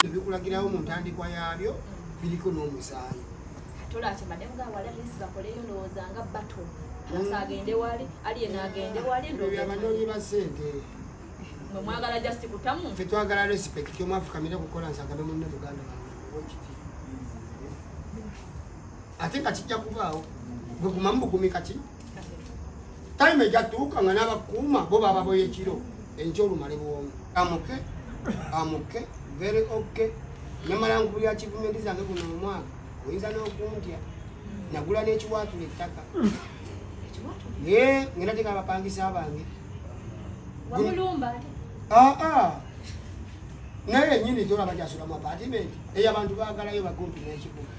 ebikulagirawo mu ntandikwa yaabyo biriko n'omusaayi abanoonyi ba sente fe twagala respect omwafukamire kukola nsagabe munne muganda wekiti ate nga kijja kubaawo gwe gumamu bugumi kati time ejatuuka nga n'abakuuma bo bababoya ekiro enkya olumale bwomu amuke amuke very ok namala nkubulira kivumenti zange guno omwaka oyinza n'okuntya nagula n'ekiwaatula ettaka ye ngenda teka abapangisa abange aa ah, ah. naye enyini tolaba gyasulamu apatimenti eyo abantu bagalayo bagumpi n'ekibuga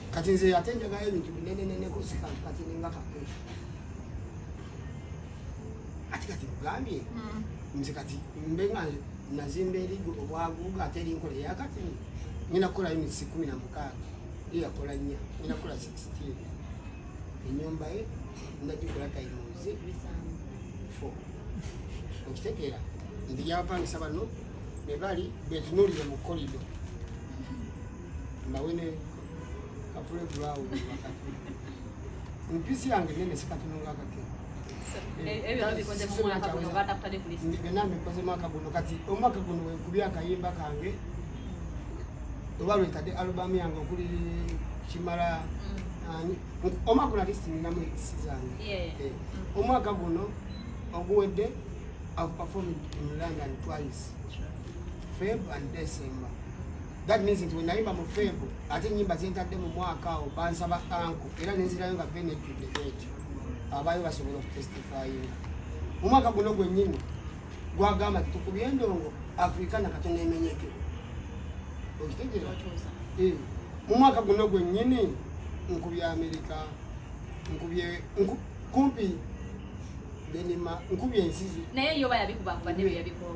kati nze ate njagala ebintu bineneneneko sikantu kati ninga kapeesha ati kati kugambye hmm. nze kati mbe nga nazimba erigo obwaguuga ate erinkola eyakati nyina kukola yunitsi kumi na mukaaga eyakola nnya nyina kukola sixteen enyumba ye ndagikola tayimuzi fo okitegeera nti gyabapangisa bano bebali betunulire mu kolido mbawene kapule gulawo mpisi yange nene sikatunonga kake benambikozemu akaguno kati omwaka guno wekubi akayimba kange oba lwetadde alubamu yange okuli kimala mm. omwaka guno atisi ninamu ekisi zange eh, mm. omwaka guno oguwedde I've performed in London twice, Feb and December. that means nti wenayimba mu feebu ate enyimba zentadde mu mwaka awo bansaba anko era nenzirayo nga benejjudde ekyo abaayo basobola okutestifayinga mu mwaka guno gwennyini gwagamba ti tukubye endongo afrika nakatono emenyeke okitegeera eh, mu mwaka guno gwennyini nkubye amerika nkubye kumpi benima nkubye ensizi naye yoba yabikubakuba nebyo yabikoo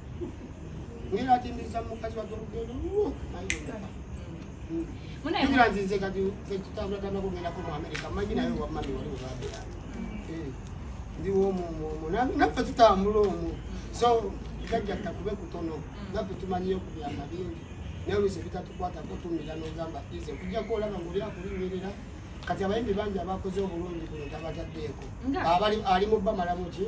Nina tindisa mukazi wa tokugendo. Muna ina nzinze kati tutabula tama kugenda ku Amerika. Maji nayo wa mami wali ubabira. Eh. Ndi wo mu mu na na tutambula omu. So kajja takube kutono. Mm. Na tumanyiyo kubyama bingi. Nawe sebita tukwata ko tumira no gamba ize kujja ko laba ngoli akulimirira. Kati abayimbi bangi abakoze obulungi kuno tabataddeeko. Abali ali mu bamalamu ki?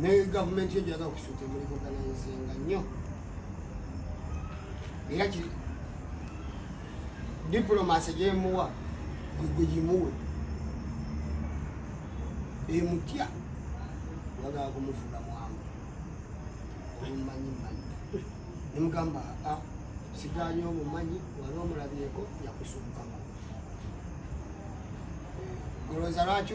ne gavumenti ejo yaga okusuuta emuli kuganaizinga nnyo era ki diplomasi gyemuwa gwegimuwe emutya wagaa kumufuga mwangu omumanyi manyi nemugamba a ah, siganye omumanyi wali omulabyeko yakusukukama eh, olowooza lwaki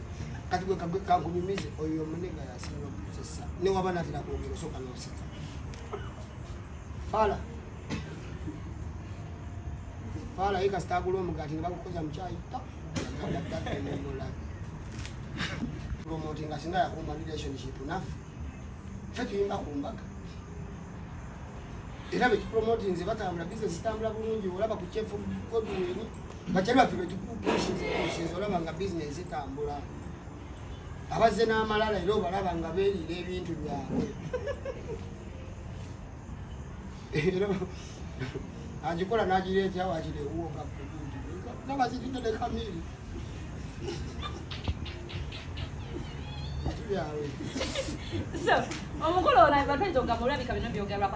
kati gwe kakunyumize oyo omunega yasinga okukozesa newaba natera kwogera osooka nosika fala fala ye kasita agula omugaati ne bagukoza mukyayi promotinga singa yakumba relationship naffe fe tuyimba ku mbaga era bekipromotinze batambula bizinesi zitambula bulungi olaba ku kyefu godwini batebe baffe betukukusinza olaba nga bizinesi etambula abazze n'amalala era obalaba nga beeriira ebintu byabwe era agikola n'agira etya wagira ewuwoka nabazitudde ne kamiri So, omukulu olabika twetogamba olabika bino byogerwako